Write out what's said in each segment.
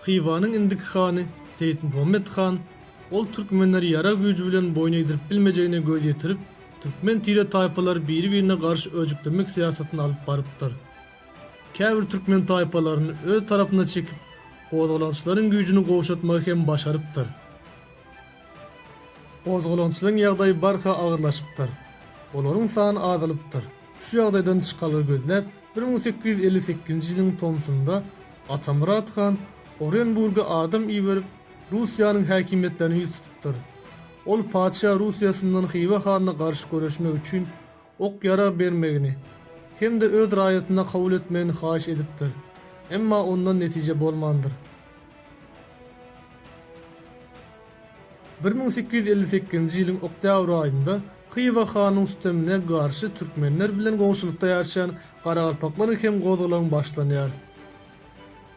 Hywanyň indiki hany Seýitmuhammet han, ol türkmenleri ýarag güýji bilen boýun egdirip bilmejegine göz ýetirip, türkmen tire-taýpalary biri-birine garşy öjüklemek syýasatyny alyp barypdyr. Käbir türkmen taýpalaryny öz tarapyna çekip, gozgalaňçylaryň güýjüni gowşatmagy hem başarypdyr. Gozgalaňçylaryň ýagdaýy barha agyrlaşypdyr. Olaryň sany azalypdyr. Şu ýagdaýdan çykalga gözläp, bir müň sekiz ýüz elli sekizinji ýylyň tomsunda Atamyrat han Orenburga adam iberip, Russiýanyň häkimiýetlerine ýüz tutupdyr. Ol patyşa Russiýasyndan Hywa hanyna garşy göreşmek üçin ok-ýarag bermegini hem-de öz raýatyna kabul etmegini haýyş edipdir, emma ondan netije bolmandyr. Bir müň sekiz ýüz elli sekizinji ýylyň oktýabr aýynda Hywa hanyň sütemine garşy türkmenler bilen goňşulykda ýaşaýan garagalpaklaryň hem gozgalaňy başlanýar.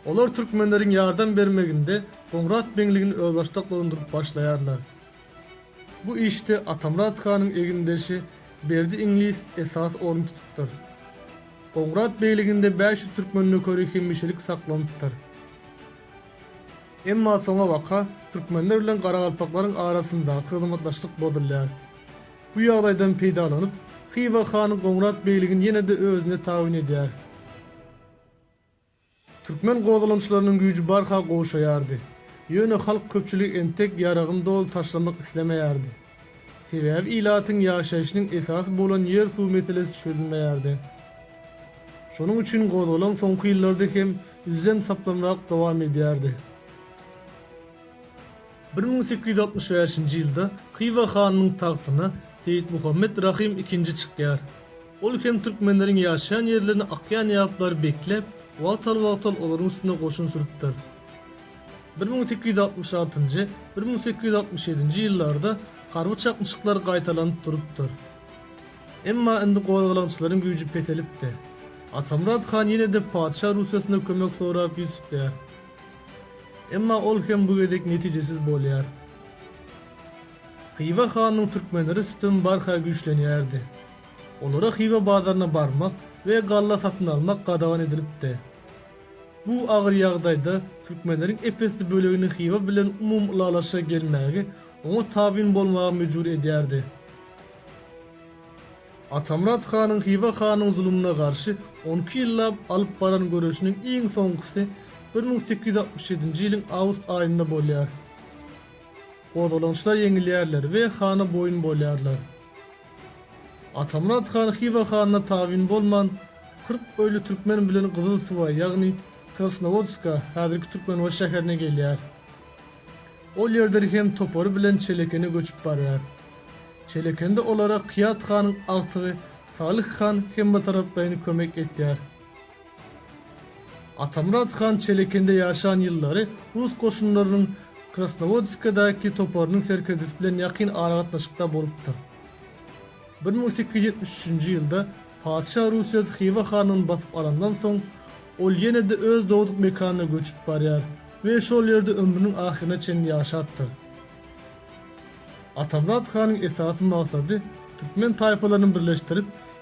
Olar türkmenleriň ýardam bermeginde Goňrat Beňligini özbaşdaklandyryp başlaýarlar. Bu işde Atamyrat hanyň egindeşi Berdi iňlis esasy orun tutupdyr. Gowurat begliginde bäş ýüz türkmen nökeri hemişelik saklanypdyr. Emma soňabaka türkmenler bilen garagalpaklaryň arasyndaky hyzmatdaşlyk bozulýar. Bu ýagdaýdan peýdalanyp, Hywa han Gowurat begligini ýene-de özüne tabyn edýär. Türkmen gozgalaňçylarynyň güýji barha gowşaýardy. Ýöne halk köpçüligi entek ýaragyny doly taşlamak islemeýärdi. Sebäbi ilatyň ýaşaýşynyň esasy bolan ýer-suw meselesi çözülmeýärdi. Şonuň üçin gozgalaň soňky ýyllarda hem üzlem-saplamrak dowam edýärdi. Bir müň sekiz ýüz altmyş bäşinji ýylda Hywa hanynyň tagtyna Seýitmuhammet Rahym ikinji çykýar. Ol hem türkmenleriň ýaşaýan ýerlerini akýan ýaplar bekläp, wagtal-wagtal olaryň üstüne goşun sürüpdir. Bir müň sekiz ýüz altmyş altynjy, bir müň sekiz ýüz altmyş ýedinji ýyllarda harby çaknyşyklar gaýtalanyp durupdyr. Emma indi gozgalaňçylaryň güýji peselipdi. Atamyrat han ýene-de patyşa Russiýasyna kömek sorap ýüz tutýar. Emma ol hem bu gezek netijesiz bolýar. Hywa hanyň türkmenleri üstün barha güýçlenýärdi. Olara Hywa bazaryna barmak we galla satyn almak gadagan edilipdi. Bu agyr ýagdaýda türkmenleriň ep-esli bölegini Hywa bilen umumy ylalaşyga gelmäge oňa tabyn bolmaga mejbur edýärdi. Atamyrat hanyň Hywa hanyň zulumyna garşy on iki ýyllap alyp baran göreşiniň iň soňkusy bir müň sekiz ýüz altmyş ýedinji ýylyň awgust aýynda bolýar. Gozgalançlar ýeňilýärler we hana boýun bolýarlar. Atamyrat han Hywa hanyna tabyn bolman, kyrk öýli türkmen bilen Gyzyl suwa, ýagny Krasnowodska, häzirki Türkmenbaşy şäherine gelýär. Ol ýerden hem topary bilen Çelekene göçüp barýar. Çelekende olara Kyýat hanyň agtygy Salyh han hemmetaraplaýyn kömek etýär. Atamyrat han Çelekende ýaşan ýyllary rus goşunlarynyň Krasnowodskadaky toparynyň serkerdesi bilen ýakyn aragatnaşykda bolupdyr. Bir müň sekiz ýüz ýetmiş üçünji ýylda patyşa Rusez Hywa hanlygyny basyp alandan soň, ol ýene-de öz dogduk mekanyna göçüp barýar we şol ýerde ömrüniň ahyryna çenli ýaşapdyr. Atamyrat hanyň esasy maksady türkmen taýpalaryny birleşdirip,